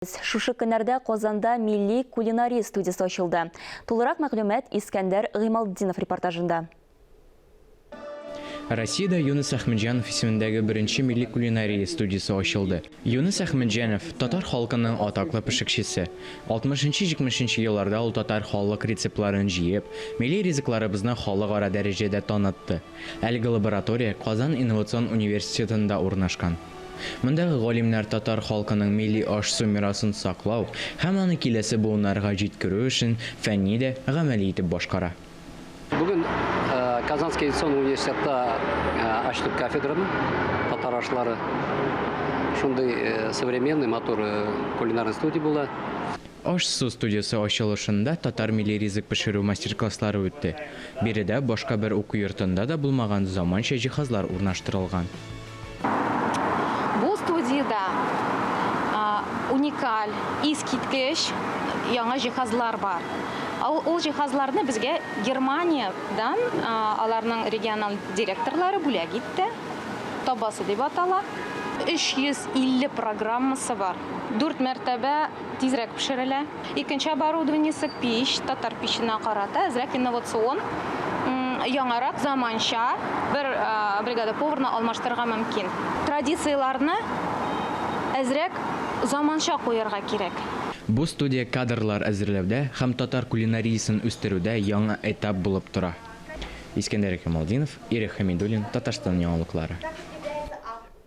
Әйдәгез, шушы көннәрдә Казанда милли кулинария студиясе ачылды. Тулырак мәгълүмат Искәндәр Гыймалтдинов репортажында. Россиядә Юныс Әхмәтҗанов исемендәге беренче милли кулинария студиясе ачылды. Юныс Әхмәтҗанов, татар халкының атаклы пешекчесе. Алтмышынчы-җитмешенче елларда ул татар халык рецептларын җыеп, милли ризыкларыбызны халыкара дәрәҗәдә танытты. Әлеге лаборатория Казан инновацион университетында урнашкан. Мондагы галимнәр татар халкының милли аш-су мирасын саклау һәм аны киләсе буыннарга җиткерү эшен фәнни дә, гамәли итеп башкара. Бүген Казанский авиационный университетта ачтык кафедраны, татар ашлары. Шундый современный, матур кулинарный студия була. Аш-су студиясе ачылышында татар милли ризык пешерү мастер-класслары үтте. Биредә башка бер уку йортында да булмаган заманча җиһазлар урнаштырылган. Бу студиядә уникаль, искиткеч яңа җиһазлар бар. Ул җиһазларны безгә Германиядән аларның региональ директорлары бүләк итте. Табасы дип атала. 350 программасы бар. Дүрт мәртәбә тизрәк пешерелә. Икенче оборудованиесе пич, татар пиченә карата әзрәк инновацион, яңарак, заманча, бер бригада поварны алмаштырырга мөмкин. Традицияләрне әзрәк заманча куярга кирәк. Бу студия кадрлар әзерләүдә һәм татар кулинариясен үстерүдә яңа этап булып тора. Искәндәр Камалдинов, Ирек Хәмидуллин, Татарстан яңалыклары.